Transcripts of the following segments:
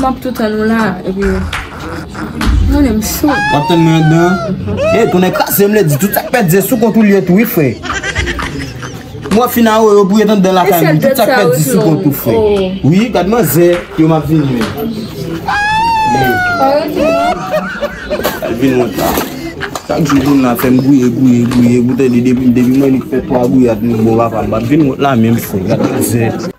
Map toutan nou la epi Mwen em chou Wap tan mwen dan E konen krasem le di tout sak pèt di sou kontou liye tou wi fre Mwen fina ou yo bouye tan dan la fèm tout sak pèt di sou kontou fre Wi gad man zè yo map vin men Al vin mwen ta Sak di moun la fèm bouye bouye bouye Boutè di depi mwen li fèt 3 bouye at mwen bon va fèm bat vin mwen la menm fre gad man zè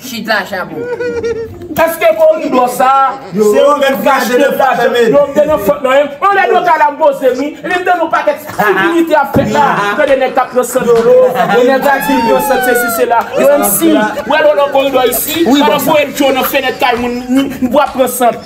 Shit la chabon. Eske koridò sa a se yo menm ki achte l la fèmen l? Yo gen yon fot nan menm. On lè doka la m poze m wi. Li mande nou pakèt stipidite ap fèt la. M tande nèg kap pran sant dlo. Yon nèg la di l pran sant sesi sela. Yo menm si. Wè lolo koridò isi. Pandan m voye l cho nan fenèt kay moun. M pou ap pran sant.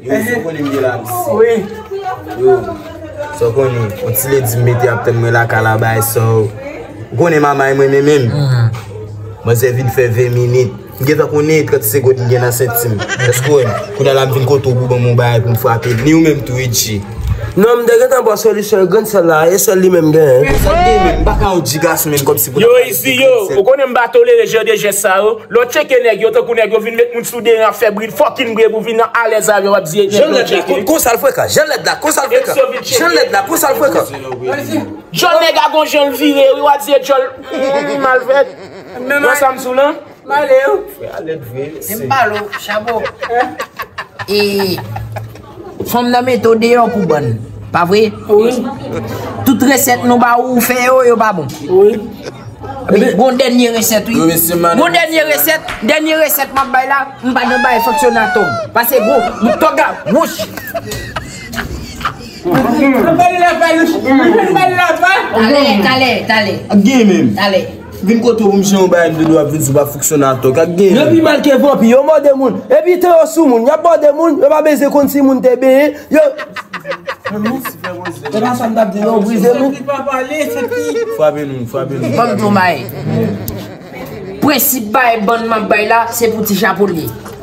Yo sou konnen mde la msi. Yo sou konnen on ti lady mete ap tann mwen la kalabay so. Ou konnen mamay mwen men menm. Manzè vin fè 20 minit. Mgen tan konnen 30 segond mgen nan sentim. Eske ou wèm? Kounya la mvin kote ou pou banm on bagay poum frape. Ni ou menm tou Ritchie. Non mte gen tan bò solisyon e grenn sèl la. E sèl li menm mgen. Sèl li menm. Mpaka yon ti gason menm kòmsi pou ta pale de grenn sèl. Yo isi yo. Ou konnen mpa tolere jan de jès sa yo. Lè w tcheke nèg yo tankou nèg yo vin met moun sou deran ap fè bri fucking bri epi vin nan alèz avè w ap di e nèg yo tcheke. Djòl nèg a gon jan l vire wi wa di e djòl humm malfèt wè sa m sou lan. Male yo. Frè a lèd vre se. Menm balo chabo. Fanm nan mete w deyo pou bann. Pa vre? Wi. Tout reset nou ba ou ou fe yo, yo pa bon. Wi. Epi gon denye reset wi. Yo mesye mande. Gon denye reset, denye reset map bay la, m pa nan bay fok se nan tog. Pase gwo, nou tog la, wouch. Anbali la pa nou. Anbali la pa. Tale, tale, tale. Ap gen menm. Tale. Vin kote ou mnje yon bagay mte dwe ap vin sou pa fonksyonè atò kak gen. Yo pi mal ke vanpi, yo mòde moun, epi tan yo sou moun, yap mòde moun, yo pa bezyen konn si moun te benyen, yo. Se pa sa mtap di non, brize nou. Frape nou, frape nou. Fòm di yon bagay. Prensip bay bann map bay la, se pou ti japonè.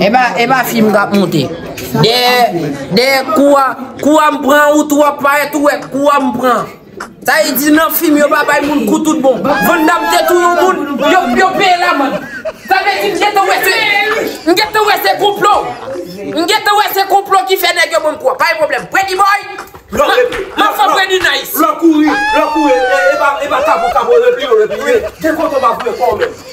Epa epa film kap monte. Dèyè dèyè kou a kou a m pran ou tou wap parèt ou wè kou a m pran. Sa vle di nan film yo pa bay moun kou tout bon. Van Damme te touye yon moun yo yo peye l amann. Sa vle di m gentan wè se m gentan wè se konplo. M gentan wè se konplo ki fè nèg yo ban m kou a. Pa gen pwoblèm. Pretty boy Map fè w pran di nice. Lò kouri lò kouri epa epa kapo kapo repliye w repliye. Gen kote w pa voye kò w menm.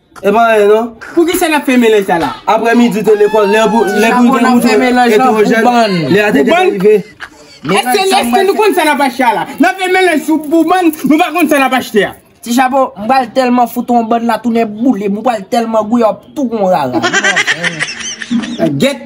E pa anyen non. Poukisa lap fè melanj sa la? Aprè midi ou te lekòl, lè pou ou te mouton etwojèn, lè a te gen rive. Eske nou konn sa nap achte a la? Nap fè melanj sou boubann, nou pa konn sa nap achte a. Ti chapo, m pral tèlman fout on bann la tounen boule m, ou pral tèlman gouye wap tou gon rara. Gèt,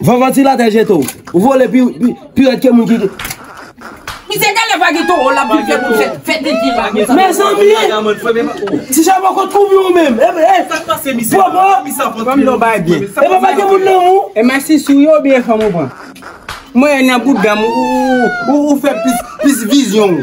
Van vantilatè jete w. Ou vole pi rèd ke moun ki. Misye genlè pa gen toro lap vin fè moun fè dezi la konsa. Mezanmi! Ti charbon kot koubyen ou menm? Sak pase misye la? Popo! Fanm nan w bay byen. Epa pa gen moun nan ou? Eman si sou yo oubyen fanm ou pran? Mwen e nan boudam ou fè plis vizyon ou.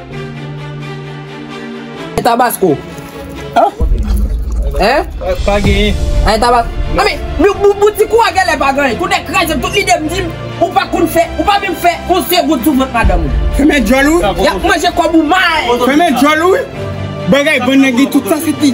An tabasco An An Pa genyen An tabasco An men Yon bouti kou a genlè pa genyen Kou nèg kraze m tout lide m di m Ou pa konn fè Ou pa menm fè Yon se gout sou vant madanm ou Fèmen djòl ou Yap manje kòb ou mal Fèmen djòl ou Bagay bann nèg li tout sa se pi.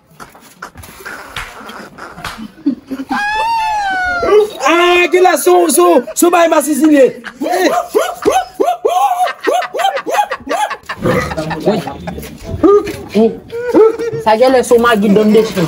Aaa gila sou sou sou bay masisi liye. Sa gen lè sou magi donde chien.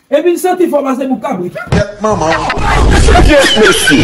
Epi l santi fò pase pou kabrit. Tèt manman w. Yes mesye!